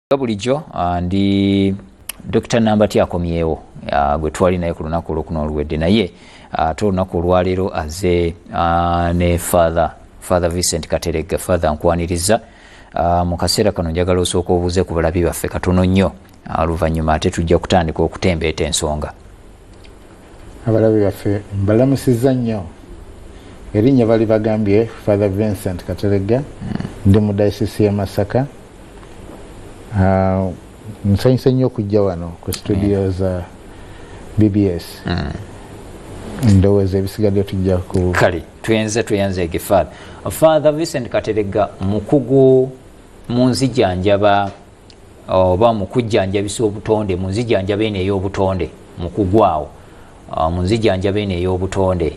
nga bulijjo ah, ndi dr nambati akomyewo ah, gwe twali naye ku lunaku olwokuno oluwedde naye ah, ate olunaku olwaleero aze ne father father vincent kateregga father nkwaniriza mu kaseera kano njagala osooka obuuze ku balabi baffe katono nnyo oluvannyuma ate tujja kutandika okutembeeta ensonga abalabe baffe mbalamusiza nnyo erinnya bali bagambye father vincent kateregga hmm. ndi mu dayisisi ye masaka ah, nsanyuse nnyo okujja wano ku studio hmm. za bbs hmm. ndowooza ebisigadde tujja ku kale tuyenze tuyenze egifaala father vincent kateregga mukugu mu nzijanjaba oba mu kujjanjabisa obutonde mu nzijanjaba eno ey'obutonde mu kugwaawo ah, mu nzijanjaba eno ey'obutonde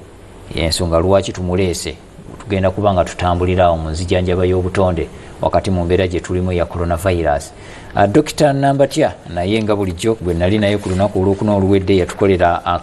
ensonga lwaki tumuleese tugenda kuba nga tutambulira awo mu nzijanjaba y'obutonde wakati mu mbeera gye tulimu eya coronavirus ah, dokita nambatya naye nga bulijjo gwe nali naye ku lunaku olwokuna oluwedde yatukolera ah,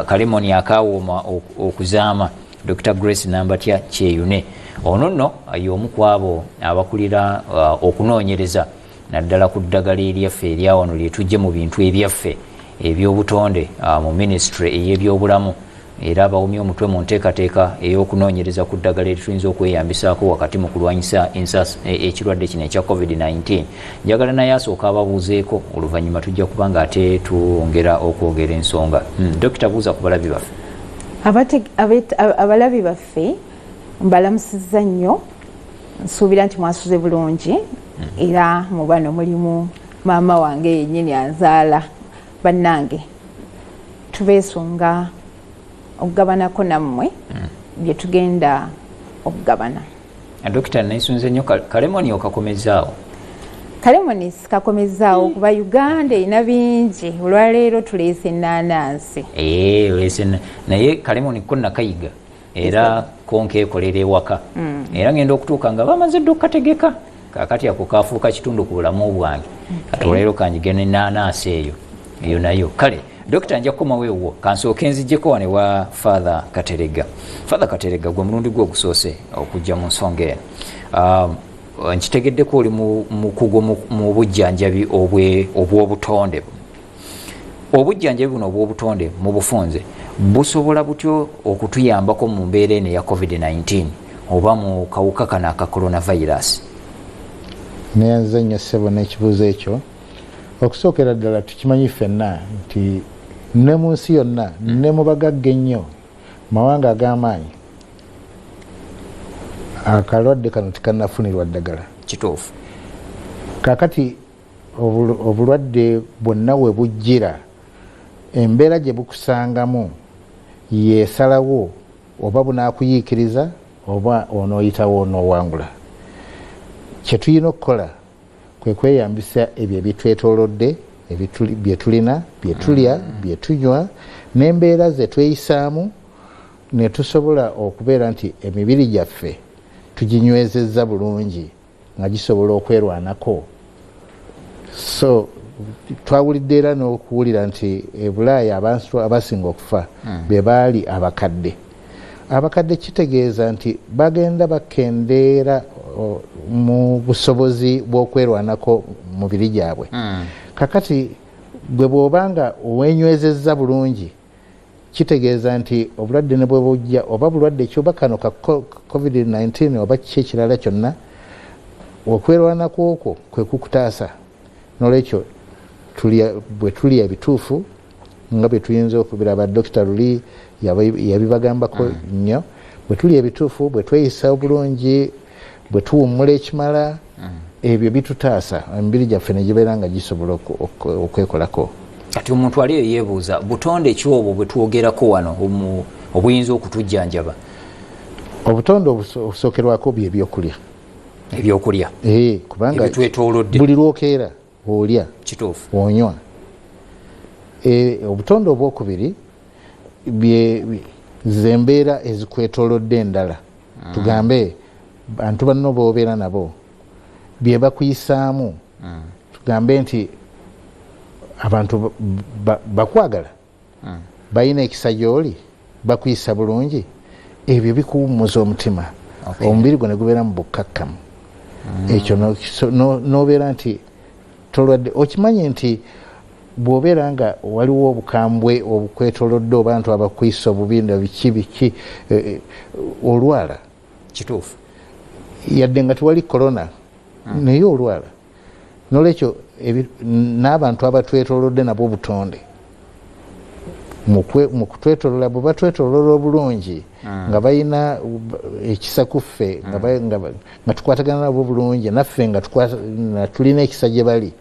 kalemoni akawooma okuzaama dr grace nambatya kyeyune ono nno y'omu ku abo abakulira uh, okunoonyereza naddala ku ddagala eryaffe eryawano lyetujje mu bintu ebyaffe ebyobutonde uh, mu minisitule ey'ebyobulamu era bawumye omutwe mu nteekateeka ey'okunoonyereza ku ddagala erituyinza okweyambisaako wakati mu kulwanyisa e, ekirwadde kino ekya covid-19 njagala naye asooka ababuuzeeko oluvannyuma tujja kuba nga ate twongera okwogera ensonga hmm, dokita buuza ku balabi baffe abalabi baffe mbalamusiza nnyo nsuubira nti mwasuze bulungi era mu bano mulimu maama wange yenyini anzaala bannange tubeesunga okugabanako nammwe mm. bye tugenda okugabana dokita nesunze nyo kalemoni okakomezaawo kalemoni sikakomezaawo kuba uganda erina bingi olwaleero tuleese enanansi eh, naye kalemoni ko nakayiga era konkeekolera ewaka mm. era ngenda okutuuka nga bamaze dda okukategeka kakati ako kafuuka kitundu ku bulamu bwange kati olwaliro kanjige ne naanaasi eyo eyo nayo kale dokita nja kukomawo ewuwo kansooke nzijjeko wane wa father katerega father katerega gwe mulundi gwe ogusoose okujja mu nsonga eno um, nkitegeddeko oli mukugu mu bujjanjabi obw'obutonde obujjanjabi buno obw'obutonde mu bufunze busobola butyo okutuyambako mu mbeera eno eya covid-19 oba mu kawuka kano aka coronavirus neyanziza nnyo ssebo n'ekibuuzo ekyo okusookera ddala tukimanyi ffenna nti ne mu nsi yonna ne mu bagagga ennyo mawanga ag'amaanyi akalwadde kano tikanafunirwa ddagala kituufu kakati Obulwadde bwonna we bujjira, embeera gye bukusangamu y'esalawo oba bunaakuyiikiriza oba onooyitawo onoowangula. Kye tulina okukola kwe kweyambisa ebyo ebitwetoolodde bye tulina bye tulya mm. bye tunywa n'embeera ze tweyisaamu ne tusobola okubeera nti emibiri gyaffe tuginywezezza bulungi nga gisobola okwerwanako so twawulidde era n'okuwulira nti ebulaaya abantu abasinga okufa hmm. be baali abakadde abakadde kitegeeza nti bagenda bakendeera mu busobozi bw'okwerwanako mubiri gyabwe hmm. kakati gwe bw'oba nga owenywezezza bulungi Kitegeeza nti obulwadde ne bwe bujja oba bulwadde ki oba kano ka Covid nineteen oba kiki ekirala kyonna, okwerwanako okwo kwe kukutaasa. Noolwekyo tulya bwe tulya ebituufu nga bwe tuyinza okubiraba, Dokita luli yabibagambako nnyo, bwe tulya ebituufu, bwe tweyisa obulungi, bwe tuwummula ekimala mm. ebyo bitutaasa emibiri gyaffe ne gibeera nga gisobola okwekolako kati omuntu ali eyo yeebuuza butonde ki obwo bwe twogerako wano obuyinza okutujjanjaba obutonde obusookerwako byebyokulya ebyokulya eh, kubanga buli lwokeera olya kituufu onywa e, obutonde obwokubiri zembeera ezikwetolodde endala mm. tugambe bantu banno bobeera nabo byebakuyisaamu mm. tugambe nti abantu bakwagala balina ekisa gyoli bakuyisa bulungi ebyo bikuwummuza omutima omubiri gwo negubeera mu bukkakkamu mm. ekyo nobeera nti tolwadde okimanyi nti bwobeera nga waliwo obukambwe obukwetolodde obantu abakwisa obubi na biki biki e, e, olwala kituufu yadde nga tewali korona mm. naye olwala nolwekyo n'abantu abatwetolodde nabwo obutonde mukutwetolola bwe batwetolola obulungi ah. nga balina ekisa ku ffe ah. nga tukwatagana nabo bulungi naffe nga tulina ekisa gye bali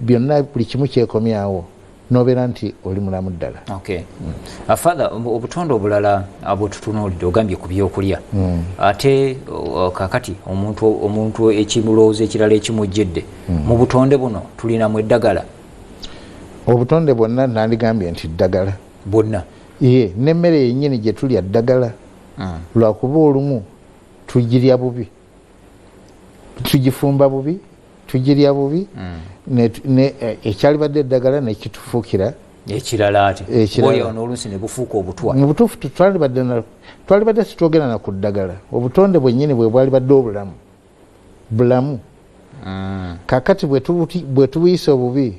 byonna buli kimu kyekomyawo nobeera nti oli mulamu ddala okay. mm. uh, father um, obutonde obulala abwetutunuulidde ogambye ku byokulya mm. ate uh, kakati omuntu omuntu ekimulowooza ekirala ekimujjidde mm. mu butonde buno tulinamu eddagala obutonde bwonna nandigambye nti ddagala bwonna ye nemmere yenyini gyetulya ddagala mm. lwakuba olumu tugirya bubi tugifumba bubi tugirya bubi mm. eh, ekyalibadde eddagala nekitufuukira ekirala ati ekiralaoluusi nebufuuka obutwa mubutuufu twalibadde sitwogera na ku ddagala obutonde bwennyini bwe bwalibadde obulamu bulamu mm. kakati bwetubuyisa obubi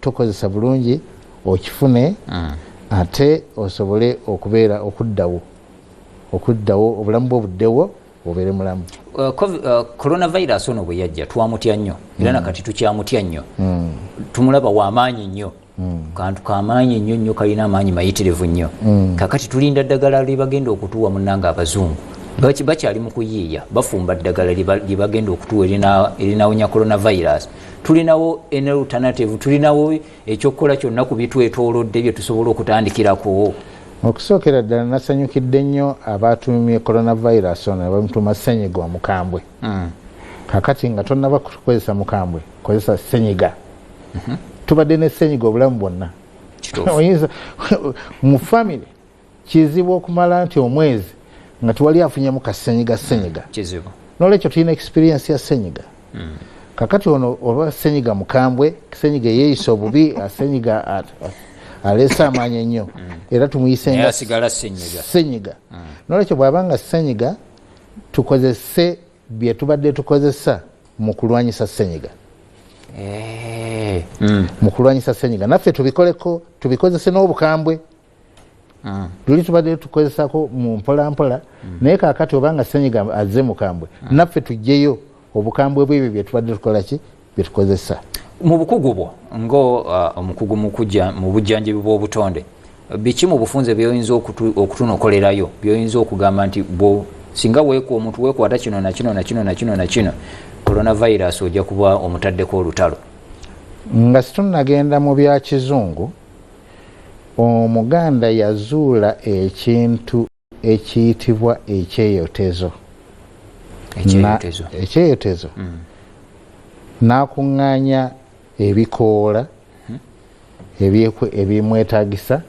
tokozesa bulungi okifune mm. ate osobole okubeera okuddawo okuddawo obulamu bwo buddewo obeere mulamu uh, uh, coronavirus ono bwe yajja twamutya nnyo era mm. nakati tukyamutya nnyo mm. tumulaba wamaanyi nnyo kantu kamaanyi nnyo nnyo kalina amaanyi mayitirivu nnyo kakati tulinda ddagala lyebagenda okutuwa munanga abazungu bakyali mu kuyiiya bafumba ddagala lyebagenda okutuwa erinawonya coronavirus tulinawo enalternative tulinawo ekyokukola kyonna ku bitwetolodde byetusobola okutandikirako okusookera ddala nasanyukidde nnyo abaatumye coronavirus ono nebamutuma senyiga omukambwe hmm. kakati nga tonaba kukozesa mukambwe kozesa senyiga mhm. tubadde ne senyiga obulamu bwonna mu famiry kizibu okumala nti omwezi nga tewali afunyemu ka senyiga senyiga mm, kizibu nolwekyo tulina experience ya senyiga mm. kakati ono oba senyiga mukambwe senyiga eyeyisa obubi senyiga aleese amaanyi ennyo mm. era tumuyisenga senyiga mm. nolwekyo bwaba nga senyiga tukozese byetubadde tukozesa mu kulwanyisa senyiga eh. mm. mu kulwanyisa senyiga naffe tubikoleko tubikozese n'obukambwe luli tubadde tukozesako mu mpolampola naye kakati obanga senyiga azze mukambwe naffe tujjeyo obukambwe bwebyo byetubadde tukolaki byetukozesa mu bukugu bwo nga uh, omukugu mu bujjanjabi bw'obutonde biki mu bufunze byoyinza okutunokolerayo byoyinza okugamba nti singa weku omuntu wekwata kino nakino nakino nakino nakino coronavirus ojja kuba omutaddeko olutalo nga situnagenda mu byakizungu Omuganda yazuula ekintu ekiyitibwa ekyeyotezo ekyeyotezo mm. n'akuŋŋaanya ebikoola hmm. ebimwetagisa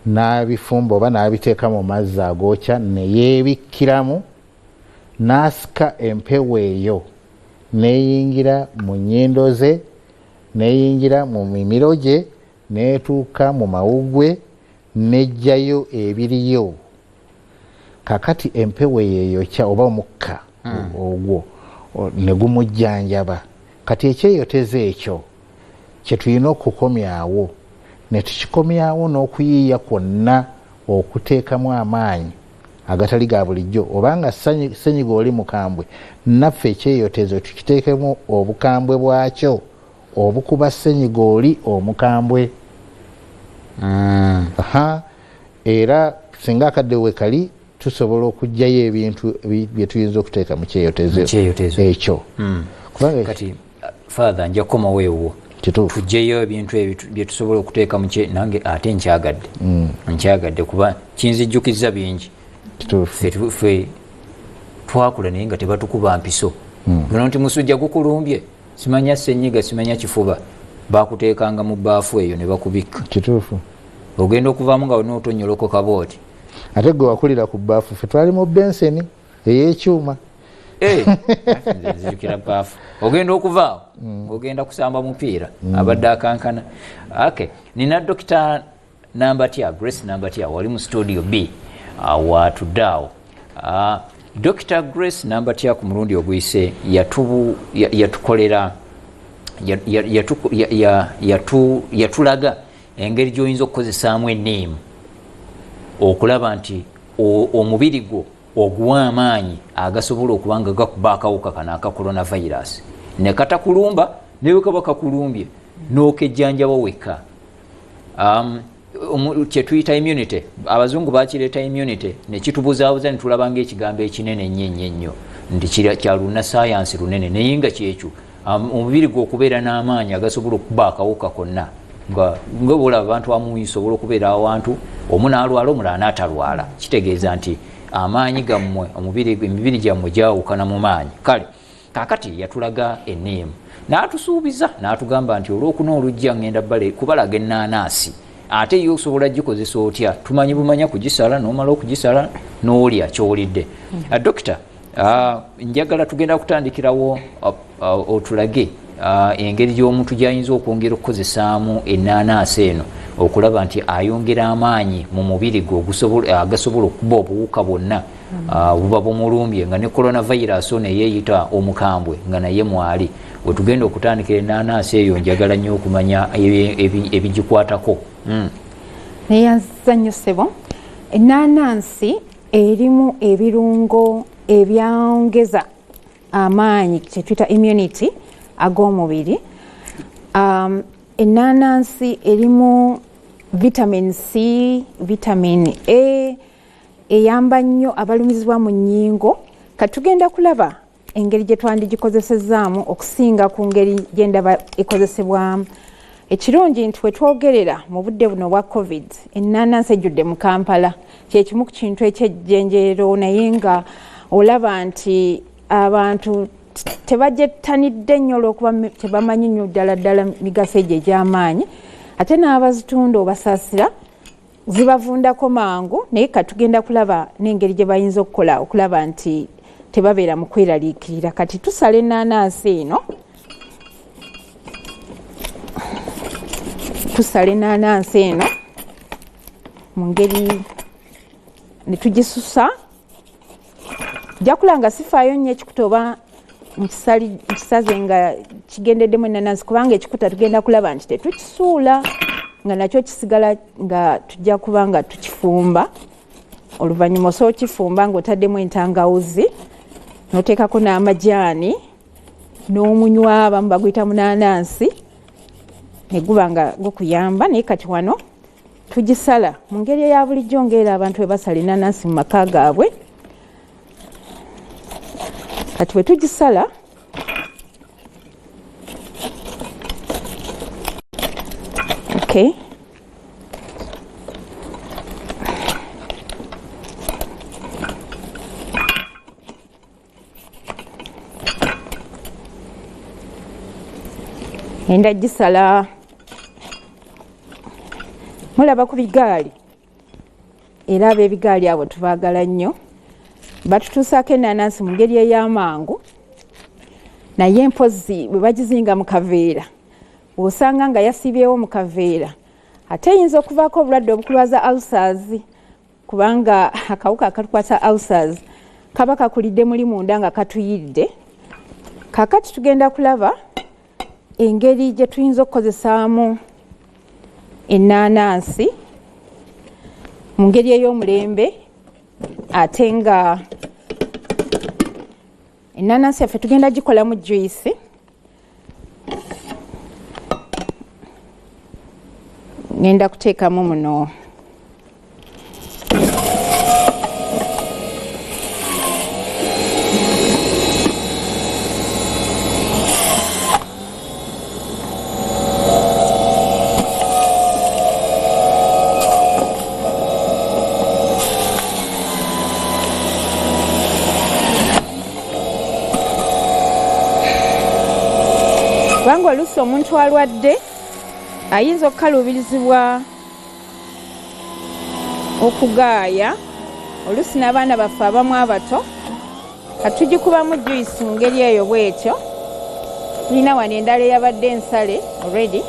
n'abifumba oba n'abiteeka mu mazzi agookya ne yeebikkiramu n'asika empewo eyo n'eyingira mu nnyindo ze n'eyingira mu mimiro gye netuuka mu mawugwe nejjayo ebiriyo kakati empewo yeyokya oba omukka hmm. ogwo negumujjanjaba kati ekyeyoteza ekyo kyetulina okukomyawo netukikomyawo n'okuyiiya kwonna okuteekamu amaanyi agatali ga bulijjo obanga senyiga oli mukambwe naffe ekyeyotezo tukiteekemu obukambwe bwakyo Obukuba ssenyiga oli omukambwe. Ha, era singa akadde wekali tusobola okujjayo ebintu byetuyinza okuteeka mu kyeyotezo ekyo. Hmm. Kati father nja kukomawo ewuwo tujjeyo ebintu byetusobola okuteeka mu nange ate nkyagadde hmm. nkyagadde kuba kinzijjukiza bingi fe twakula naye nga tebatukuba mpiso hmm. nonti musujja gukulumbye simanya senyiga simanya kifuba bakutekanga mu baafu eyo nebakubikka kituufu ogenda okuvamu nga olina otonyoloko kabooti ate gwe wakulira ku baafu fe twali mu benseni eyekyuma eh, nzijukira baafu ogenda okuvaawo mm. ogenda kusamba mupiira mm. abadde akankana ake nina dokita nambatya grace nambatya wali mu studio b watudde awo ah, dr grace nambatya ku mulundi oguyise yatukolera yatulaga engeri gyoyinza okukozesaamu eniimu okulaba nti omubiri gwo oguwa amaanyi agasobola okuba nga gakuba akawuka kano aka coronavirus nekatakulumba newekaba kakulumbye nokejjanjaba wekka um, um, kyetuyita immunity abazungu bakireeta immunity nekitubuzabuza netulaba nga ekigambo ekinene nnyo ennyo ennyo nti kyaluna sayansi lunene naye nga kyekyo um, omubiri gwe okubeera n'amaanyi agasobola okuba akawuka konna nga bwola abantu amuyi sobola okubeera awantu omu nalwala omulala natalwala kitegeeza nti amaanyi gammwe emibiri gyammwe gyawukana mu maanyi kale kakati yatulaga ename n'atusuubiza n'atugamba nti olwokuna olujja ngenda kubalaga ennaanaasi ate ye osobola gikozesa otya tumanyi bumanya kugisala nomala okugisala nolya kyowulidde hmm. ah, dokita ah, njagala tugenda kutandikirawo ah, otulage engeri gyomuntu gyayinza okwongera okukozesaamu ennaanaasi eno okulaba nti ayongera amaanyi mu mubiri gwe agasobola okuba obuwuka bwonna Ah, buba bumulumbye nga ne coronavirus ono eyeyita omukambwe nga naye mwali wetugenda okutandikira enanansi eyo njagala nnyo okumanya ebigikwatako hmm. neyanziza nnyo sebo enanansi erimu ebirungo ebyongeza amaanyi kyetuyita immunity ag'omubiri um, enanansi erimu vitamin c vitamin a eyamba nnyo abalumizibwa mu nnyingo kati tugenda kulaba engeri gye twandigikozesezaamu okusinga ku ngeri gye ndaba ekozesebwamu ekirungi nti we twogerera mu budde buno obwa covid ennaanansi ejjudde mu kampala kye kimu ku kintu ekyejjenjeero naye nga olaba nti abantu tebagyettanidde nnyo olwokuba tebamanyi nnyo ddala ddala migaso egyo egy'amaanyi ate n'abazitunda obasaasira zibavundako mangu naye katugenda kulaba n'engeri gye bayinza okukola okulaba nti tebabeera mu kweraliikirira kati tusala ennaanansi eno tusala ennaanansi eno mu ngeri ne tugisusa jakula nga sifaayo nnyo ekikuta oba nkisaze nga kigendeddemu enanansi kubanga ekikuta tugenda kulaba nti tetukisuula nga nakyo kisigala nga tujja kuba nga tukifumba oluvannyuma osobola okifumba ng'otaddemu entangawuzi noteekako n'amajaani n'omunywa abamu baguyita munanansi neguba nga gukuyamba naye kati wano tugisala mu ngeri eya bulijjo ngaera abantu bwe basala enanansi mu maka gaabwe kati bwe tugisala okay. enda gisala mulaba ku bigaali era abebigaali abo tubagala nnyo batutuusaako enanansi mu ngeri ey'amangu naye mpozi bwe bagizinga mu kaveera osanga nga yasiibyewo mu kaveera ate eyinza okuvaako obulwadde obukulwaza alsazi kubanga akawuka akatukwasa ulcers kaba kakulidde muli munda nga katuyidde kakati tugenda kulaba engeri gye tuyinza okukozesaamu ennaanansi mu ngeri ey'omulembe ate nga ennaanansi yaffe tugenda gikolamu juisi ngenda kuteekamu muno kubanga oluusi omuntu alwadde ayinza okukaluubirizibwa okugaaya oluusi n'abaana baffe abamu abato katugikubamu juyisi mu ngeri eyo bwetyo tulina wano endala eyabadde ensale already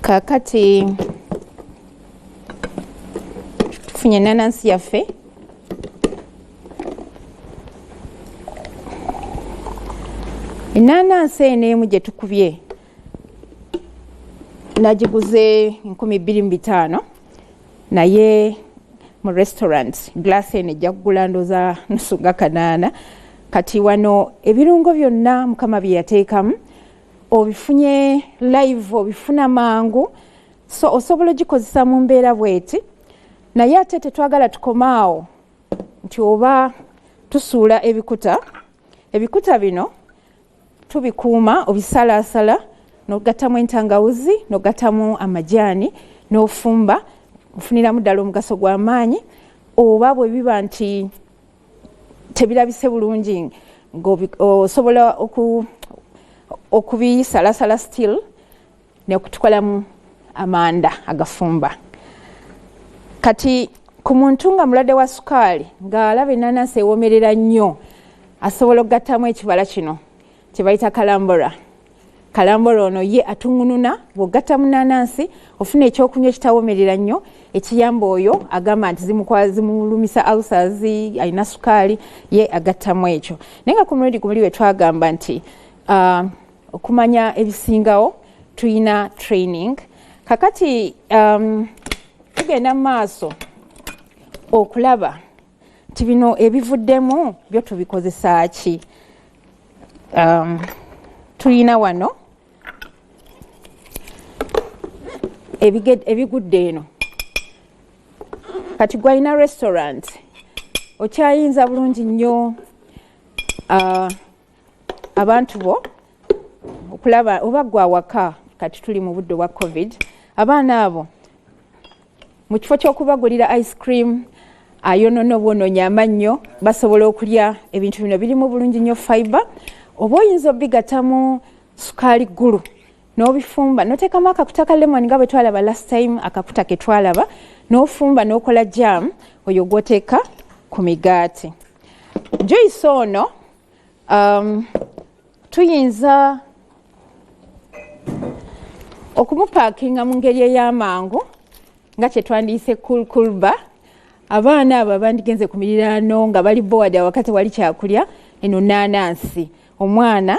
kakati tufunye enanansi yaffe enanansi eno emu gyetukubye nagiguze nkumi bbiri mu bitaano naye mu restaurant glass eno ejja kugula ndoza nusu nga kanaana kati wano ebirungo byonna mukama bye yateekamu obifunye live obifuna mangu so osobola ogikozesa mu mbeera bweti naye ate tetwagala tukomaawo nti oba tusuula ebikuta ebikuta bino tubikuuma obisalaasala nogattamu entangawuzi nogattamu amajaani n'ofumba ofuniramu ddala omugaso gw'amaanyi oba bwe biba nti tebirabise bulungi osobola okubisalasala still nekutukolamu amanda agafumba kati ku muntu nga mulwadde wa sukaali ng'alaba enanansi ewomerera nnyo asobola okugattamu ekibala kino kyebayita kalambora kalambora ono ye atungununa bwogatta mu nanansi ofuna ekyokunywa ekitawomerera nnyo ekiyamba oyo agamba nti zimulumisa alsas alina sukaali ye agattamu ekyo naye nga ku mulundi gumuli wetwagamba nti uh, okumanya ebisingawo tulina training kakati um, tugenda mu maaso okulaba nti bino ebivuddemu byo tubikozesa ki um, tulina wano ebigudde eno kati gwalina restaurant okyayinza bulungi nnyo uh, abantu bo okulaba oba gwe awaka kati tuli mu budde obwa covid abaana abo mu kifo ky'okubagulira ice cream ayonona obwononya amannyo basobola okulya ebintu bino birimu bulungi nnyo fiber oba oyinza obigatamu sukaali ggulu n'obifumba noteekamu akakuta ka lemon nga bwe twalaba last time akakuta ke twalaba n'ofumba n'okola jam oyo gwoteeka ku migaati juyisi ono um, tuyinza okumupakinga mu ngeri ey'amangu nga kyetwandiyise kulkulba abaana abo abandigenze ku miriraano nga bali bowadi awaka tewali kyakulya eno naanansi omwana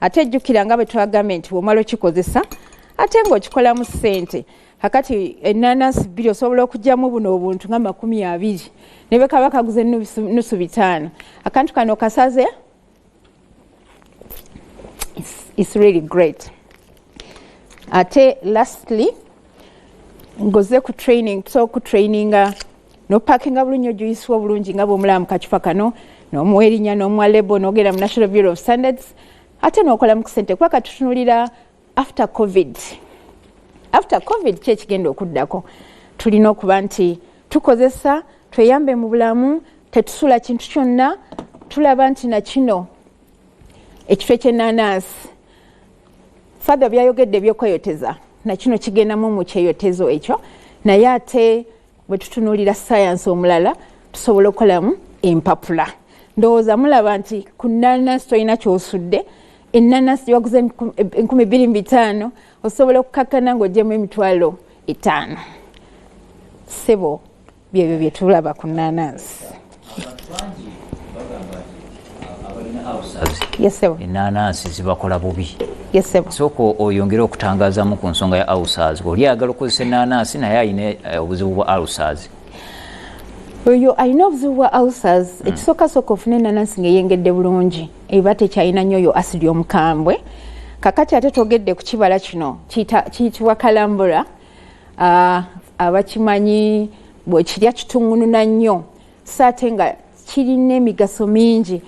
ate jjukira nga bwe twagambye nti womala okikozesa ate ng'okikolamu ssente kakati enanasi bbiri osobola okugyamu buno obuntu nga makumi abiri ne bwe kaba kaguze nusu bitaano akantu kano kasaze is really great ate lastly ngoze ku training so ku traininga nopakinga bulungi ojuyisewo obulungi nga bwomulaba mu kacupa kano nomuwa erinya nomuwa lebo nogenda mu national bureau of standards ate nokola mu kusente kuba katutunulira after covid after covid ki ekigenda okuddako tulina okuba nti tukozesa tweyambe mu bulamu tetusula kintu kyonna tulaba nti nakino ekifo ekyenanansi fatha byayogedde ebyokweyoteza nakino kigendamu mukyeyotezo ekyo naye ate bwe tutunuulira sayansi omulala tusobola okukolamu empapula ndowooza mulaba nti ku nanasi tolina kyosudde enanasi gyewaguza enkumi bbiri mu bitaano osobola okukakkana ng'ogyemu emitwalo etaano sebo byebyo byetulaba ku nanasi enanansi zibakola bubi sooka oyongere okutangazamu ku nsonga ya ausaz oli ayagala okukozesa enanansi naye alina eh, obuzibu bwa ausaz oyo alina obuzibu bwa ausaz hmm. ekisookasoka ofuna enanansi ngaeyengedde bulungi eba tekyalina nyo oyo asidi omukambwe kakati ate togedde ku kibala kino kiyitibwa kalambula abakimanyi bwekirya kitungununa nnyo so ate nga kirina emigaso mingi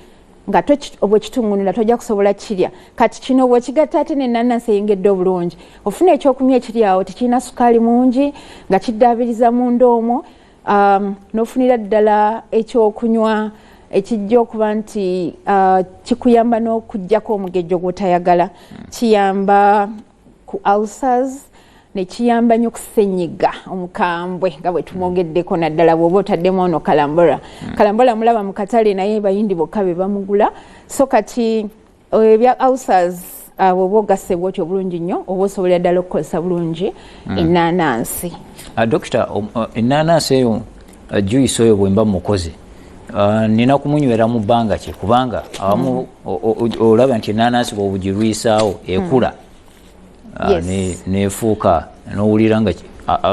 nga bwekitungunula tojja kusobola kirya kati kino bwekigatta ate nenanansi eyengedde obulungi ofuna ekyokunywa ekiryawo tekirina sukaali mungi nga kiddaabiriza munda omwo um, nofunira ddala ekyokunywa ekijja okuba nti uh, kikuyamba n'okugyako omugejjo gwotayagala kiyamba ku ulcers nekiyamba nnyo kusenyiga omukambwe nga bwe tumwogeddeko naddala bwoba otaddemu ono kalambora hmm. kalambora mulaba mu katale naye bayindi bokka be bamugula so kati eh, ebya ulcers ah, bwoba ogasse bwoti obulungi nnyo oba osobolera ddala okukozesa bulungi hmm. ennaanansi ah, dokita um, uh, ennaanansi eyo juyisi oyo bwemba mukoze ah, nina kumunywera mu bbanga kye kubanga awamu hmm. olaba nti enanansi bwobugirwisaawo hmm. ekula ah, nefuuka nowulira nga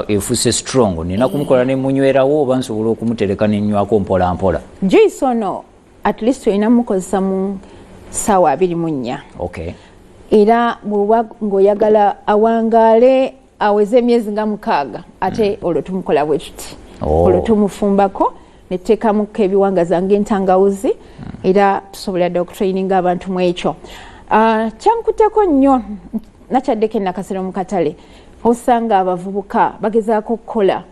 efuse strong nina kumukola nemunywerawo oba nsobola okumutereka nenywako mpolampola juyisi ono at least olina mukozesa mu saawa abiri mu nnya era bwoba ngaoyagala awangaale aweze emyezi nga mukaaga ate mm. olwo tumukola bwe tuti oh. olwo tumufumbako netuteekamuko ebiwangaza ngaentangawuzi mm. era tusobola dda okutraininga abantu mu ekyo ah, kyankuteko nnyo nakyaddeko enakasera mu katale osanga abavubuka bagezaako okukola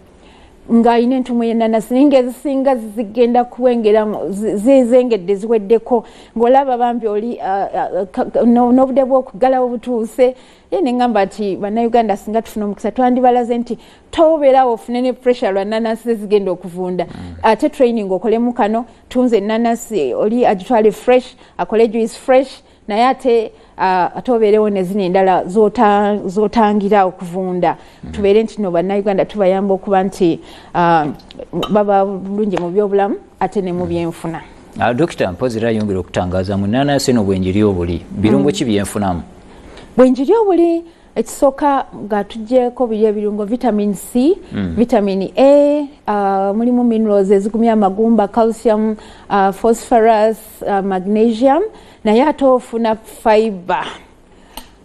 ng'alina entumu yenanasi naye ngaezisinga zigenda kuwengera zizengedde ziweddeko ng'olaba bambi oli ah, ah, n'obude bw'okuggalawo butuuse ye nengamba nti bannayuganda singa tufuna omukisa twandibalaze nti tobeerawo ofune ne pressure lwa nanasi zezigenda okuvunda mm. ate training okolemu kano tunze nanasi oli agitwale fresh akole juice fresh naye ate uh, ate obeerewo nezino endala zotangira okuvunda mm. tubeere nti no bannayuganda tubayamba okuba nti uh, baba bulungi mu byobulamu ate ne mu byenfuna mm. ah, dokita mpozi era ayongera okutangaza mu nanasi no bwenjiri obuli birungo mm. ki byenfunamu bwenjiri obuli ekisooka nga tugyeko biri ebirungo vitamin c mm. vitamin a uh, mulimu minerals ezigumya amagumba calcium uh, phosphorus uh, magnesium naye ate ofuna fiber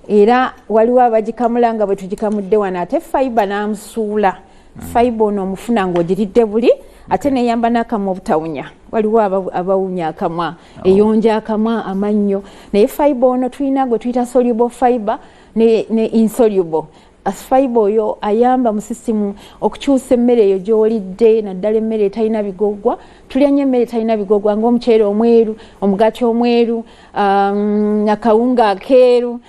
era waliwo abagikamula nga bwe tugikamudde wano ate fiber n'amusuula mm. fiber ono omufuna ng'ogiridde buli ate neyamba n'akamwa obutawunya waliwo abawunya akamwa oh. eyonja akamwa amannyo naye fibe ono tulina gwe tuyita soluble fibe ne, ne insoluble asfibe oyo ayamba mu sisitimu okukyusa emmere eyo gyolidde naddala emmere etalina bigoggwa tulya nnyo emmere etalina bigoggwa ngaomuceere omweru omugaati omweru um, akawunga akeeru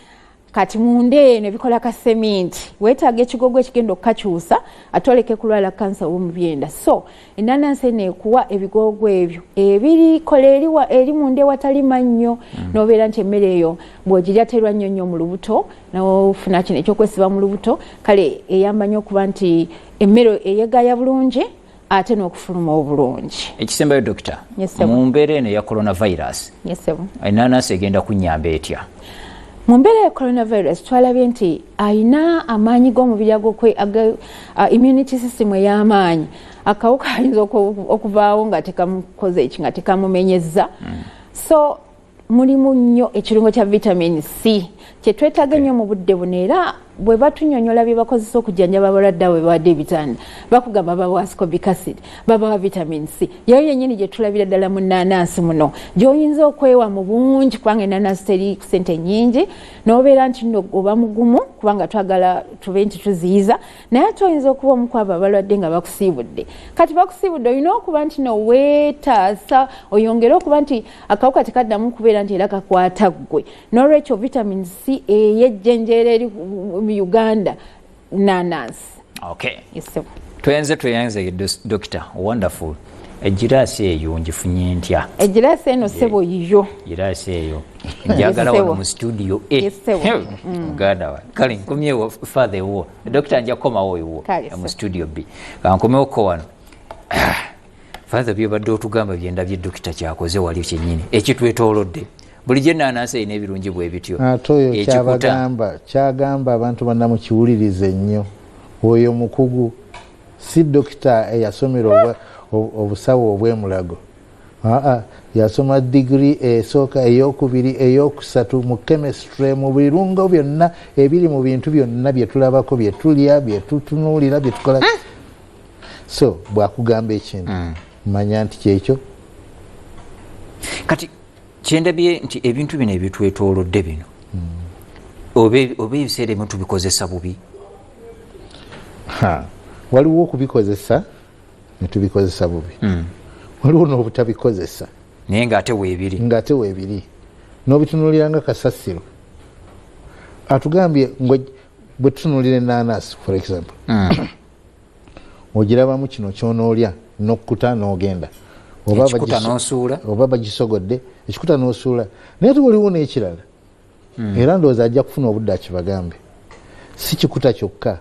kati munda eno ebikola ka seminti weetaaga ekigogo ekigenda okukakyusa ate oleke kulwala kansa womubyenda so enanansi eno ekuwa ebigogo ebyo ebirikola eri munda ewatali mannyo mm. nobeera nti emmere eyo bwogirya terwa nnyo nnyo mu lubuto nofuna kino ekyokwesiba mu lubuto kale eyamba nnyo okuba nti emmere eyegaya bulungi ate n'okufuluma obulungi ekisembayo dokita mu mbeera eno eya coronavirus enanansi egenda kunyamba etya mu mbeera ya coronavirus twalabye nti alina amaanyi g'omubiri agokwe uh, immunity system ey'amaanyi akawuka ayinza okuvaawo nga tekamukoze eki nga tekamumenyezza mm. so mulimu nnyo ekirungo kya vitamin c kyetwetaaga ennyo mu budde buno era bwe batunyonyola bye bakozesa okujjanjaba abalwadde abo bebawadde ebitanda bakugamba babawa scobic acid babawa vitamin c yeyo yennyini gye tulabira ddala mu nnaanansi muno gy'oyinza okwewa mu bungi kubanga ennaanansi teri ku sente nnyingi n'obeera nti nno oba mugumu kubanga twagala tube nti tuziyiza naye ate oyinza okuba omu kwabo abalwadde nga bakusiibudde kati bakusiibudde olina okuba nti no weetaasa oyongere okuba nti akawuka tekaddamu kubeera nti era kakwata ggwe nolwekyo vitamin c eyejjenjeera eri mu uganda nanansi okay. tuyenze tuyenze dokita wonderful egiraasi eyo njifunye ntya egiraasi eno sebo yiyo giraasi eyo njagala wano mu studio e muganda mm. wa kale nkomyewo father ewuwo dokita nja kukomawo ewuwo mu studio b kankomewoko wano father byobadde otugamba byendabye dokita kyakoze wali kyenyini ekitwetolodde bulijjo enanansi erina ebirungi bwe bityo ate oyo kyabagamba kyagamba abantu banna mukiwulirize nnyo oyo mukugu si dokita eyasomera obusawo obwemulago aa yasoma digiri esooka eyokubiri eyokusatu mu chemistry mu birungo byonna ebiri mu bintu byonna byetulabako byetulya byetutunuulira byetukola hmm. so bwakugamba ekintu mm. manya nti kyekyo kati kyendabye nti ebintu bino ebitwetolodde bino mm. oba ebiseera ebimu tubikozesa bubi waliwo okubikozesa netubikozesa bubi mm. waliwo nobutabikozesa naye ngaate webiri ngaate webiri nobitunulira nga kasasiro atugambye bwetutunulira enanasi for example mm. ogirabamu kino kyonoolya nokukuta nogenda oba bagisogodde ekikuta nosuula naye te waliwo nekirala hmm. era ndowooza ajja kufuna obudde akibagambe si kikuta kyokka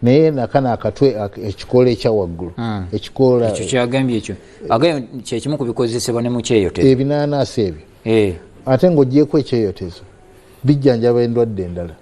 naye nakana akatwe ekikoola ekyawaggulu hmm. ekikoolaekyo kyagambye ekyo agambye kyekimu ku bikozesebwa ne mukyeyotezo ebinanaasi ebyo eh. ate ngaogyeko ekyeyotezo bijjanjaba endwadde endala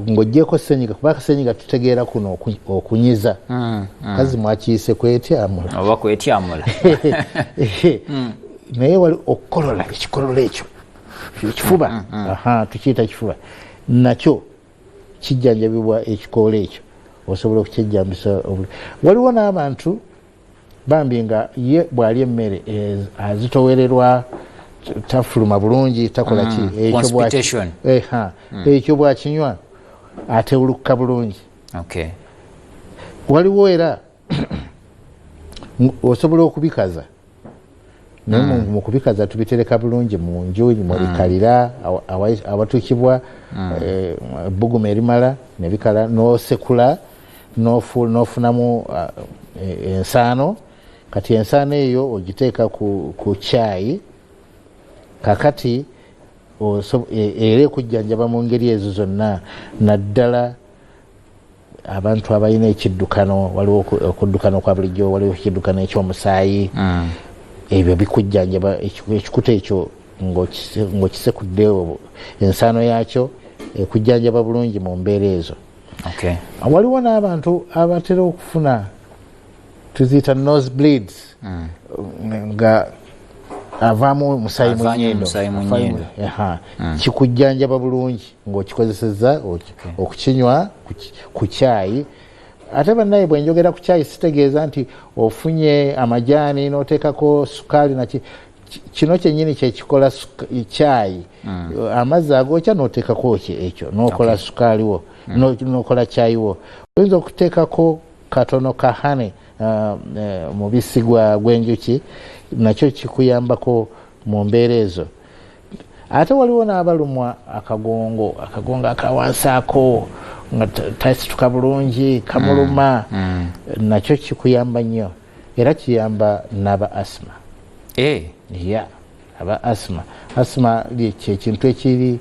ng'ogyeko senyiga kuba akasenyiga tutegeera kuno okunyiza mm, mm. kazi mwakiyise kwetyamula oba kwetyamula mm. naye wali okukolola ekikolola ekyo ekifuba tukiyita kifuba nakyo kijjanjabibwa ekikoola ekyo osobola okukyejjambisa waliwo n'abantu bambi nga ye bwali emmere eh, azitowererwa tafuluma bulungi takola ki mm, eh, mm. ekyo bwakinywa atewulukka bulungi waliwo era osobola okubikaza naye mm. mu kubikaza tubitereka bulungi mu nju mwebikalira mm. awatukibwa mm. eh, ebbuguma erimala nebikala nosekula nofunamu ah, e, ensaano kati ensaano eyo ogiteeka ku kyayi kakati e, era ekujjanjaba mu ngeri ezo zonna naddala abantu abalina ekiddukano waliwo okuddukana okwa bulijjo waliwo ekiddukano ekyomusaayi mm. ebyo bikujjanjaba ekikuta ekyo ng'okisekudde ensaano yaakyo ekujjanjaba bulungi mu mbeera ezo waliwo n'abantu abatera okufuna tuziyita nose bleeds mm. nga avaamu omusaayi munyindo mm. kikujjanjaba bulungi ng'okikozesezza okukinywa ku kyayi ate banaye bwenjogera ku kyayi sitegeeza nti ofunye amajaani noteekako sukaali naki kino kyenyini kyekikola kyayi mm. amazzi agokya noteekako ekyo nokola sukaaliwo mm. nokola kyayiwo oyinza okuteekako katono ka honey uh, uh, mubisi gwa gwenjuki nakyo kikuyambako mu mbeera ezo ate waliwo n'abalumwa akagongo akagongo akawansaako nga tasituka bulungi kamuluma mm, mm. nakyo kikuyamba nnyo era kiyamba n'aba asima eh. ya aba asima asima kyekintu ekiri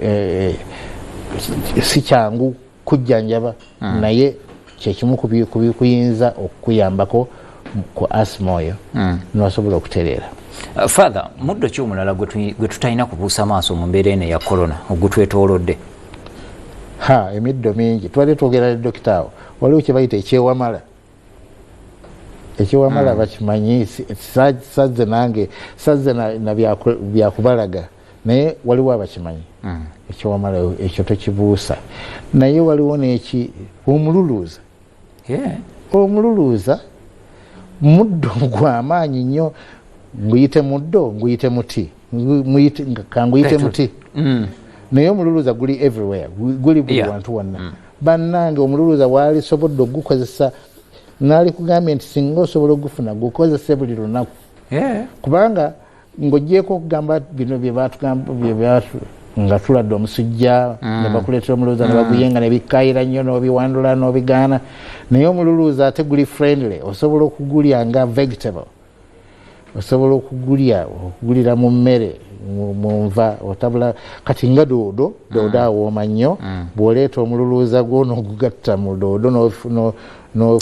eh, eh, si kyangu kujjanjaba mm. naye kyekimu kubikuyinza okukuyambako ku asima oyo mm. nosobola okutereera uh, father muddo ki omulala gwe tutalina kubuusa maaso mu mbeera eno eya corona ogutwetoolodde ha emiddo mingi twali twogera ne dokita awo waliwo kyebayita ekyewamala ekyewamala mm. bakimanyi sazze nange sazze nabyakubalaga na naye waliwo abakimanyi mm. ekyowamalayo ekyo tokibuusa naye waliwo neki omululuuza yeah. omululuuza muddo gwamaanyi nnyo nguyite muddo nguyite muti kanguyite muti mm. naye omululuuza guli everywhere guli buli wantu wonna mm. bannange omululuuza waalisobodde ogukozesa naalikugambye nti singa osobola ogufuna gukozese buli lunaku kubanga ng'ogyeko okugamba bino byebatugamba byebyatu nga tuladde omusujja mm. nebakuleetera omululuuza mm. nebaguyenga nebikayira nnyo n'obiwandula n'obigaana naye omululuuza ate guli friendly osobola okugulya nga vegetable osobola okugulya okugulira mu mmere munva otabula kati nga doodo doodo mm. awooma nnyo bw'oleeta omululuuza gwo n'ogugatta mu doodo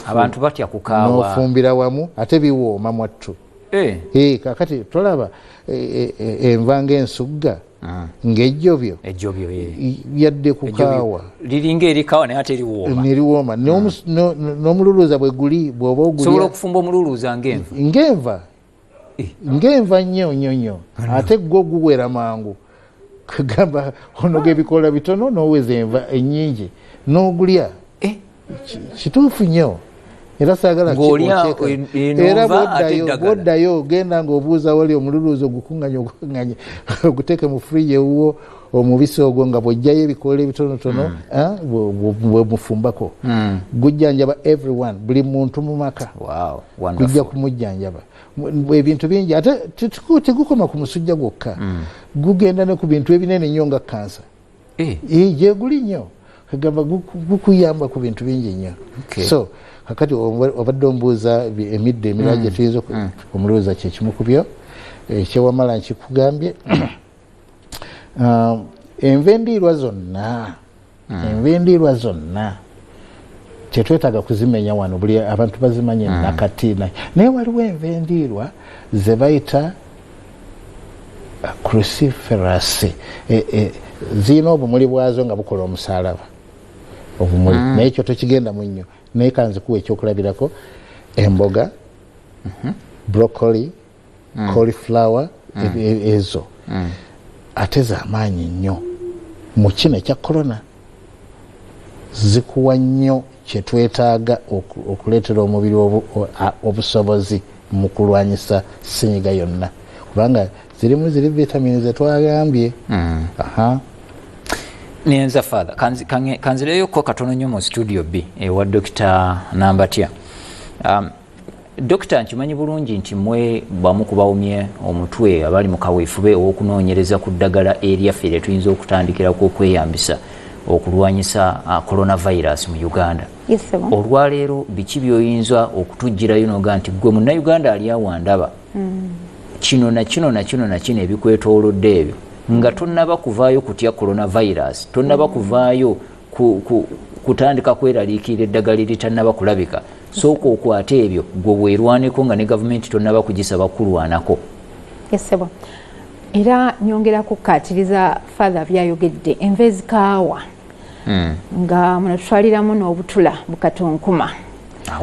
abantu batya kukaawa n'ofumbira wamu ate biwooma mwattu Eh. Eh, kakati tolaba eh, enva ngaensugga ah. ngaejjobyo yadde kukaawa liringa erikaawa naye ate eriwoomeriwooma ah. n'omululuuza bwe guli bwoba ogusobola okufumba omululuuza ngaenva ngaenva ngaenva nnyo nnyo nnyo ate gwo guwera mangu kagamba onoga ebikoola bitono noweza enva enyingi nogulya eh? kituufu nyo era sagala era bwoddayo ogenda ngaobuuza wali omululuuzi ogukunganya ogukunganya oguteeke mu friji ewuwo omubisi ogwo nga bwojjayo ebikoola ebitonotono hmm. ah, bwemufumbako hmm. gujjanjaba everyone buli muntu mu maka gujja kumujjanjaba ebintu bingi ate tegukoma ku musujja gwokka mm. gugenda ne ku bintu ebinene nnyo nga kansa eh. eh, gyeguli nnyo kagamba gukuyamba ku bintu bingi nnyo so kakati obadde ombuuza emiddo emirala mm. gyetuyinza mm. omulowooza kyekimu ku byo eh, kyewamala nkikugambye um, enva endiirwa zonna mm. envindiirwa zonna kyetwetaaga kuzimenya wano buli abantu bazimanye mm. nakati naye waliwo envindiirwa zebayita uh, cruciferasi e, e, zirina obumuli bwazo nga bukola omusalaba obumuli mm. naye ekyo tokigenda mu nnyo naye kanzikuwa ekyokulabirako emboga mm -hmm. broccoli mm. cauliflower mm. E, e, ezo mm. ate zamaanyi nnyo mu kino ekya corona zikuwa nnyo kyetwetaaga okuleetera omubiri obusobozi mu kulwanyisa sinyiga yonna kubanga zirimu ziri vitamini zetwagambye mm. nenza father kanzireyo ko katono nyo mu studio b ewa dokita nambatya um, Dokita nkimanyi bulungi nti mwe bamu kubawumye omutwe abali mu kaweefube ow'okunoonyereza ku ddagala eryaffe lye tuyinza okutandikirako okweyambisa okulwanyisa uh, coronavirus mu Uganda. Olwaleero biki by'oyinza okutuggyirayo n'oga nti ggwe munnayuganda ali awandaba hmm. kino na kino na kino na kino ebikwetoolodde ebyo nga tonnaba kuvaayo kutya coronavirus tonnaba hmm. kuvaayo kutandika kweraliikirira eddagala eritanaba kulabika sooka okwate ebyo gwe weerwaneko nga ne gavumenti tonaba kugisaba kukulwanako esebo era nyongera kukkaatiriza father byayogedde enva ezikaawa hmm. nga muno tutwaliramu n'obutula bukatonkuma ah,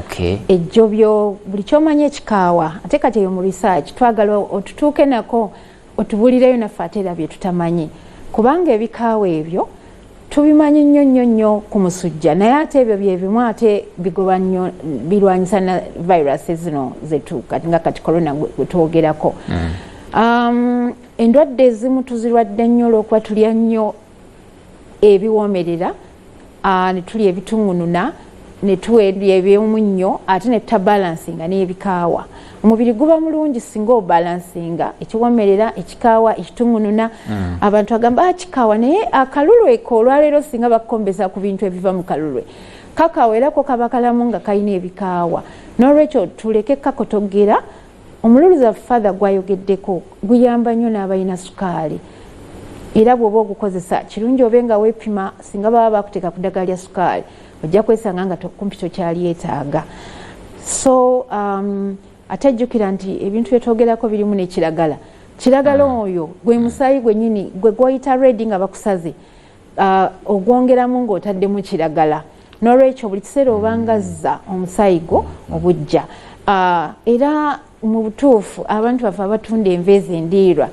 ejjobyo buli kyomanyi ekikaawa ate kati eyo mu research twagala otutuuke nako otubulireyo naffe ate era byetutamanyi kubanga ebikaawa ebyo tubimanyi nnyo nnyo nnyo ku musujja naye ate ebyo byebimu ate bigoba nnyo birwanyisa na virusi zino zetuuka nga kati corona gwetwogerako mm. um, endwadde ezimu tuzirwadde nnyo olwokuba tulya nnyo ebiwoomerera ne tulya ebituŋŋununa ne tuwerya ebyomunnyo ate ne tutabalansinga n'ebikaawa omubiri guba mulungi singa obalansinga ekiwomerera ekikaawa ekituŋŋununa mm. abantu agamba ah, kikaawa naye akalulwe ko olwaleero singa bakukombeza ku bintu ebiva mu kalulwe kakaawa era ko kaba kalamu nga kalina ebikaawa n'olwekyo tuleke kakotogera omululuza father gwayogeddeko guyamba nnyo n'abalina sukaali era bw'oba ogukozesa kirungi obe nga weepima singa baba bakuteeka ku ddagala lya sukaali ojja kwesanga nga kumpi tokyalyetaaga so um, ate jjukira nti ebintu byetwogerako birimu nekiragala kiragala ah. oyo gwe musaayi gwenyini gwe gwoyita redi nga bakusaze uh, ogwongeramu ng'otaddemu kiragala nolwekyo buli kiseera obangazza mm. omusaayi gwo obujja uh, era mu butuufu abantu baffe abatunda enva ezo endiirwa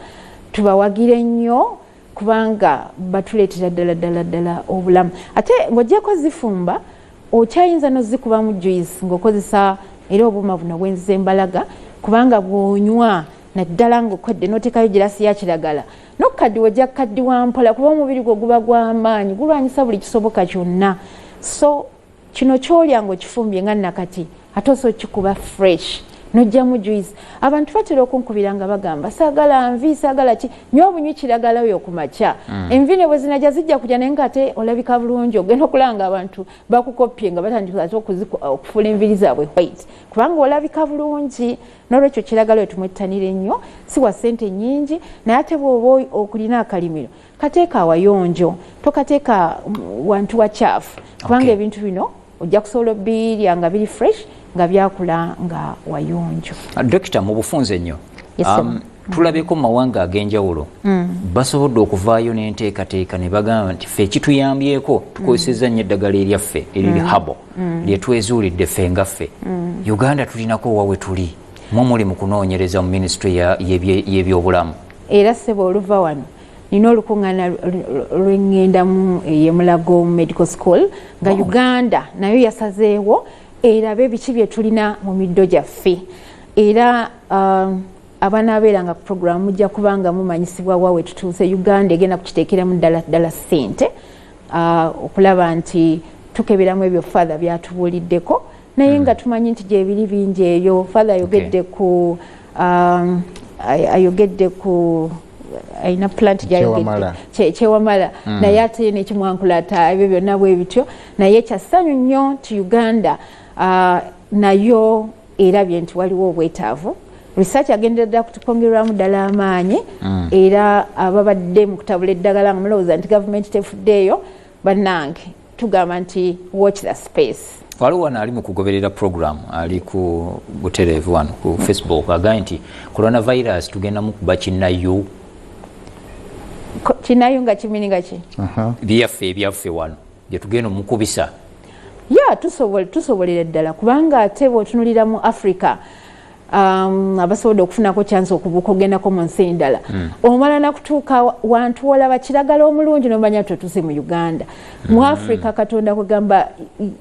tubawagire nnyo kubanga batuleetera ddala ddala ddala obulamu ate ng'ogyeko zifumba okyayinza nozikubamu juice ng'okozesa era obuuma buno bwenziza embalaga kubanga bwonywa naddala ng'okwedde n'oteekayo girasi ya kiragala nokukaddiwa ojja kukaddiwa mpola kuba omubiri gwo guba gw'amaanyi gulwanyisa buli kisoboka kyonna so kino kyolya ngaokifumbye nga nakati ate osa okikuba fresh nojjamu juice abantu batera okunkubira nga bagamba saagala nvi saagala ki nywa obunywi kiragala oyo ku makya mm. envi ne bwe zinajja zijja kujja naye nga ate olabika bulungi ogenda okulanga abantu bakukoppye nga batandika ate okufuula enviri zaabwe white kubanga olabika bulungi N'olwekyo kiragala oyo tumwettanira ennyo, si wa ssente nnyingi naye ate bw'oba okulina akalimiro kateeka awayonjo, tokateeka mm, wantu wacaafu kubanga okay. ebintu bino ojja kusobola obirya nga biri fresh nga byakula nga wayonjo. Dokita mu bufunze nnyo. Yes, um, tulabeko mu mawanga ag'enjawulo mm. basobodde okuvaayo n'enteekateeka ne bagamba nti ffe ekituyambyeko tukozesezza nnyo eddagala eryaffe eriri mm. habo mm. lyetwezuulidde ffe nga ffe uganda tulinako owa we tuli mu muli mu kunoonyereza mu minisitule y'ebyobulamu era ssebo oluva wano nina olukuŋŋaana lweŋŋendamu eyemulago mu medical school nga uganda nayo yasazeewo erabe biki bye tulina mu middo gyaffe era um, abanaabeeranga ku puroguramu mujja kuba nga mumanyisibwa wa wetutuuse uganda egenda kukiteekeramu ddala ddala ssente ah, okulaba nti tukeberamu ebyo father byatubuuliddeko naye hmm. nga tumanyi nti gyebiri bingi eyo father ayogedde ku um, ayogedde ku alina plant gyayogedde kyewamala hmm. naye ate nekimwankulata ebyo byonna bwe bityo naye kyassanyu nnyo nti uganda ah, nayo erabye nti waliwo obwetaavu research agendera ddala kutukongerwamu ddala amaanyi mm. era ababadde mu kutabula eddagala nga mulowooza nti gavumenti tefuddeeyo bannange tugamba nti watch the space waliwo wano ali mu kugoberera program ali ku butereevu wano ku facebook agambye nti coronavirus tugendamu kuba kinayo kinayo nga kimini nga ki byaffe ebyaffe wano gyetugenda omukubisa ya tusobolera ddala kubanga ate bwotunulira mu africa um, abasobodde okufunako kyansi okubuuka ogendako mu nsi endala mm. omala nakutuuka wantu wolaba kiragala omulungi nomanya ti otuuse mu uganda mm. mu hmm. africa katonda kwegamba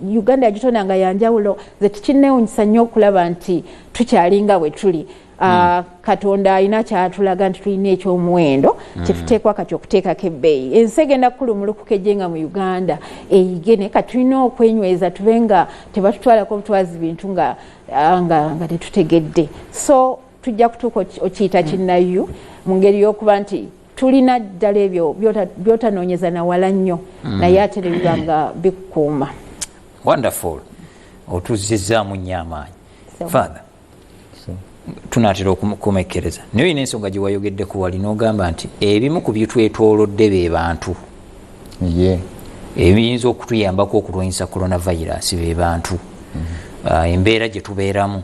uganda yagitonda nga yanjawulo ze tukinewunyisa nnyo okulaba nti tukyalinga bwe tuli Uh, hmm. katonda alina kyatulaga nti tulina ekyomuwendo hmm. kyetuteekwa kati okuteekako ebbeeyi ensi egenda kukulumulukuka ejje nga mu uganda eyige naye kati tulina okwenyweza tube nga tebatutwalako butwazi bintu nga ah, nga tetutegedde so tujja kutuuka okiyita hmm. kinnayu mu ngeri y'okuba nti tulina ddala ebyo byotanoonyeza nawala nnyo naye ate nebiba nga bikukuuma wonderful otuzizzaamu nnyo amaanyi father tunatera okukomekkereza naye olina ensonga gyewayogeddeko wali nogamba nti ebimu ku byetwetolodde be bantu ebiyinza okutuyambako okulwanyisa coronavirus be bantu mm-hmm. ah, embeera gyetubeeramu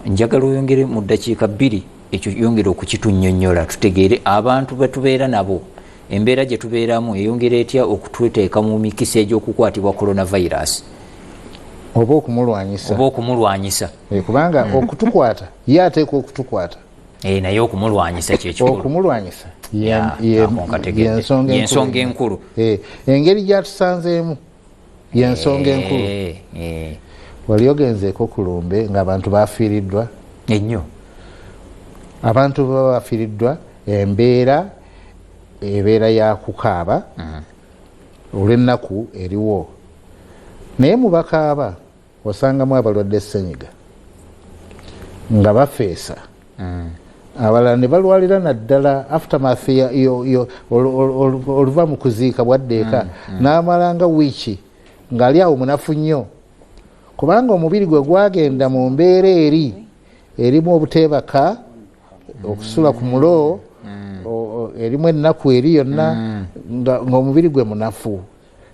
njagala oyongere mu ddakiika bbiri ekyo yongere okukitunyonyola tutegeere abantu betubeera nabo embeera gye tubeeramu eyongera etya okututeeka mu mikisa egy'okukwatibwa coronavirus oba okumulwanyisa oba okumulwanyisa eh, kubanga hmm. okutukwata ye ateeka okutukwata eh, naye okumulwanyisa kyekiokumulwanyisa yensonga enkulu eh, engeri gyatusanzeemu yensonga enkulu wali ogenzeeko ku lumbe ngaabantu bafiiriddwa ennyo abantu baba bafiiriddwa embeera ebeera ya kukaaba mm. olw'ennaku eriwo naye mu bakaaba osangamu abalwadde senyiga nga bafeesa mm. abalala ne balwalira naddala aftermath oluva mu kuziika bwaddeeka mm, mm. n'amala nga wiiki ng'ali awo munafu nnyo kubanga omubiri gwe gwagenda mu mbeera eri erimu obuteebaka okusula ku mulo mm. erimu ennaku eri yonna mm. ng'omubiri gwe munafu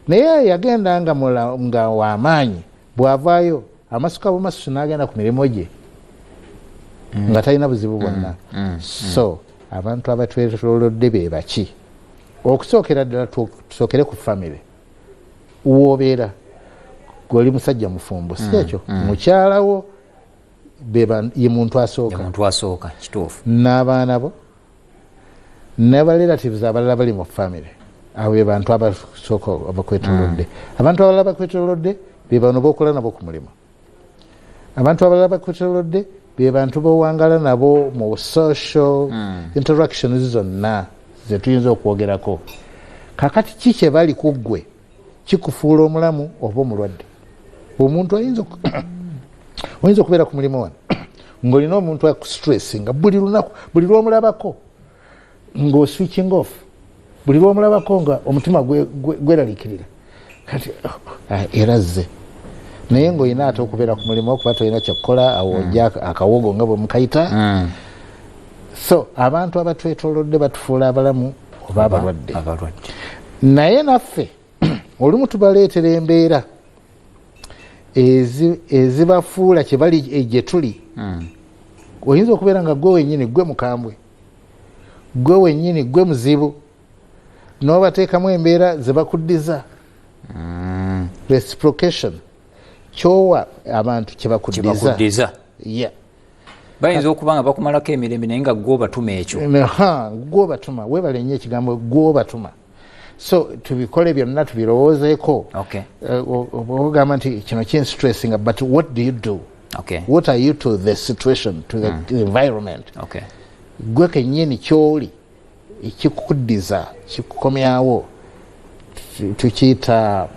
naye yagenda nga wamaanyi bwavaayo amasuka bumasusu n'agenda ku mirimu gye mm. nga talina buzibu bwonna so abantu abatwetolodde be baki okusookera ddala tusookere ku famire woobeera goli musajja mufumbo si ekyo mukyalawo ye muntu asookamuntu asooka kituufu n'abaana bo nabarelatives abalala bali mu famiry abo be bantu abasooka abakwetolodde mm. abantu abalala bakwetolodde be bano bokola nabo ku mulimu abantu abalala bakwetolodde be bantu bowangala nabo mu social mm. interactions zonna zetuyinza okwogerako kakati ki kyebali ku ggwe kikufuula omulamu oba omulwadde omuntu ayinza oyinza okubeera ku mulimu wano ngaolina omuntu akustress nga buli lunaku buli lwomulabako nga oswitching off buli lwomulabako nga omutima gweralikirira kati oh, ah, era zze naye ngaolina ate okubeera ku mulimu okuba tolina kyakukola awo oja mm. akawogo nga bwemukayita mm. so abantu abatwetolodde batufuula abalamu oba abalwadde naye naffe olumu tubaleetera embeera ezibafuula kyebali eh, gyetuli hmm. oyinza okubeera nga gwe wenyini gwe mukambwe gwe wenyini gwe muzibu nobateekamu embeera zebakuddiza hmm. reciprocation kyowa abantu kyebakuddiza bayinza okuba nga bakumalako emirembe naye nga gwobatuma ekyo gwobatuma webale nyo ekigambo gwobatuma so tubikole byonna tubirowoozeeko eh, ogamba nti kino kinstressinga but what do you do okay. what are you to the situation to the mm. environment okay. gwe kenyini kyoli ekikuddiza kikukomyawo tukiyita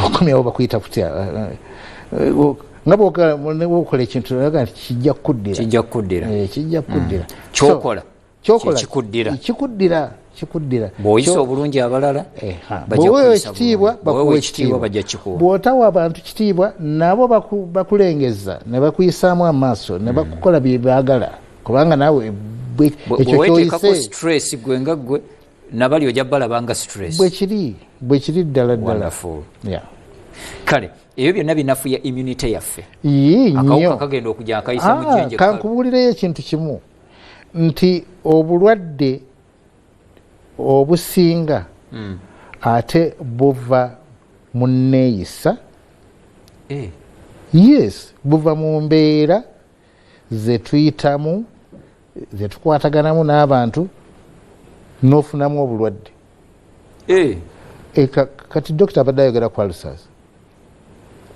okomyawo bakuyita kutya nga bwokola ekintu aga nti kijja kukuddira kijja kukuddira eh, kijja kukuddira mm. kyokola kyokola kikuddira kikuddira bwoyisa obulungi abalala eh, bwewewa ekitiibwa bakuwa ekitiibwa bajja kikuwa bwotawa abantu kitiibwa nabo bakulengeza ne bakuyisaamu amaaso ne hmm. bakukola bye baagala kubanga naawe ekyo kyoyise stress gwe nga gwe nabali ojja balaba nga stress bwe kiri bwe kiri ddala ddala kale ebyo byonna binafuya immunity yaffe akawuka kagenda okujja akayisa mu ah, jenje kankubuulireyo ekintu kimu nti obulwadde obusinga mm. ate buva mu nneeyisa eh. yes buva mu mbeera zetuyitamu zetukwataganamu n'abantu n'ofunamu obulwadde eh. Eh, kati dokita abadde ayogera ku alsas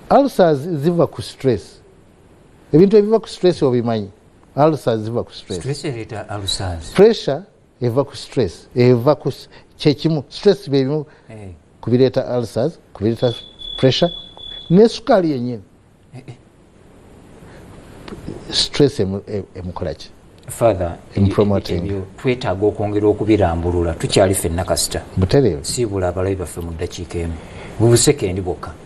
alsas ziva ku stress ebintu ebiva ku stress obimanyi alusa ziva ku pressure eva ku stress eva ku kyekimu stress byebimu eh. kubireeta alsas kubireeta pressure nesukaali yenyini eh, eh. stress emukolaki twetaaga okwongera okubirambulula tukyali fenna kasita butereevu siibula abalabi baffe mu ddakiika emu bubusekendi bwokka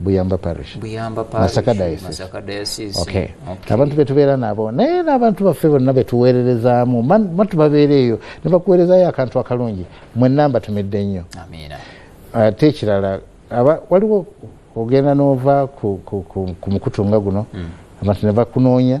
buyamba parish buyamba parish masaka diocese masaka diocese okay. okay abantu betubeera nabo naye n'abantu baffe bonna betuweererezaamu matu babeera eyo ne bakuweerezayo akantu akalungi mwe namba tumidde nnyo ate uh, ekirala waliwo ogenda n'ova ku, ku, ku, ku mukutu nga guno mm. abantu ne bakunoonya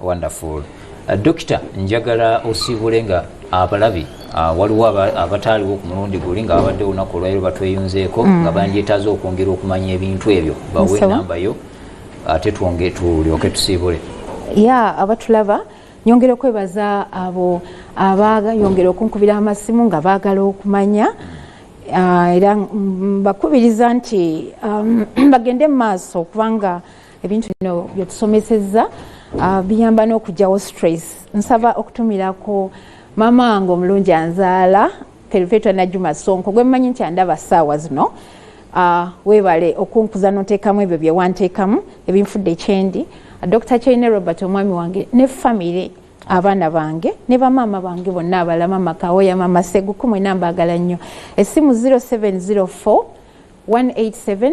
wonderful uh, dokita njagala osiibule nga abalabi uh, waliwo abataaliwo aba ku mulundi guli nga babadde olunaku olwairo batweyunzeeko mm. nga bandyetaaza okwongera okumanya ebintu ebyo bawe enamba yo ate twonge tulyoke tusiibule ya abatulaba nyongera okwebaza abo abayongera okunkubira amasimu nga baagala okumanya uh, era mbakubiriza nti um, bagende mu maaso kubanga ebintu bino byetusomesezza uh, biyamba n'okugyawo stress nsaba okutumirako maama wange omulungi anzaala perpetua najuma sonko gwemmanyi nti andaba saawa zino uh, webale okunkuza notekamu ebyo byewantekamu ebinfudde ekyendi uh, dr chaine robert omwami wange ne famiry abaana bange ne bamaama bange bonna abala mama kawoya mama seguku mwena mbagala nnyo essimu 0704 187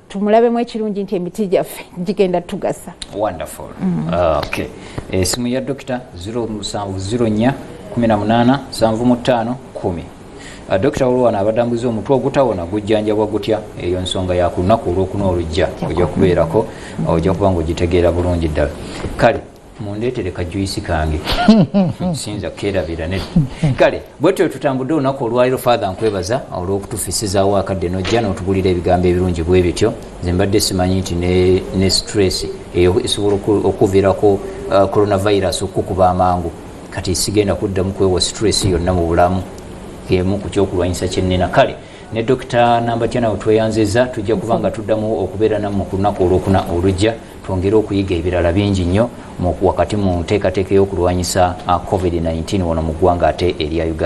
tumulabemu ekirungi nti emiti gyaffe gigenda tugasa wonderful mm. ah, okay esimu eh, ya dokita 0704 18 75 10 Uh, Dr. Olwana abadambuza omutwe ogutawona gujjanjabwa gutya eyo nsonga ya ku lunaku olwokuna olujja ojja kubeerako ojja kuba nga ogitegeera bulungi ddala kale mundeetere ka juisi kange sinza keerabira ne kale bwetyo wetutambudde olunaku olwaliro father nkwebaza olw'okutufisizaawo akadde nojja n'otubulira ebigambo ebirungi bwe bityo nze mbadde simanyi nti ne stress eyo esobola okuviirako uh, coronavirus okukukuba amangu kati sigenda kuddamu kwewa stress yonna mu bulamu emu ku kyokulwanyisa kyennina kale ne dokita nambatya nawe tweyanziza tujja kuba nga tuddamu okubeera namu ku lunaku olwokuna olujja twongere okuyiga ebirala bingi nnyo wakati mu nteekateeka ey'okulwanyisa uh, covid-19 wano mu ggwanga ate erya uganda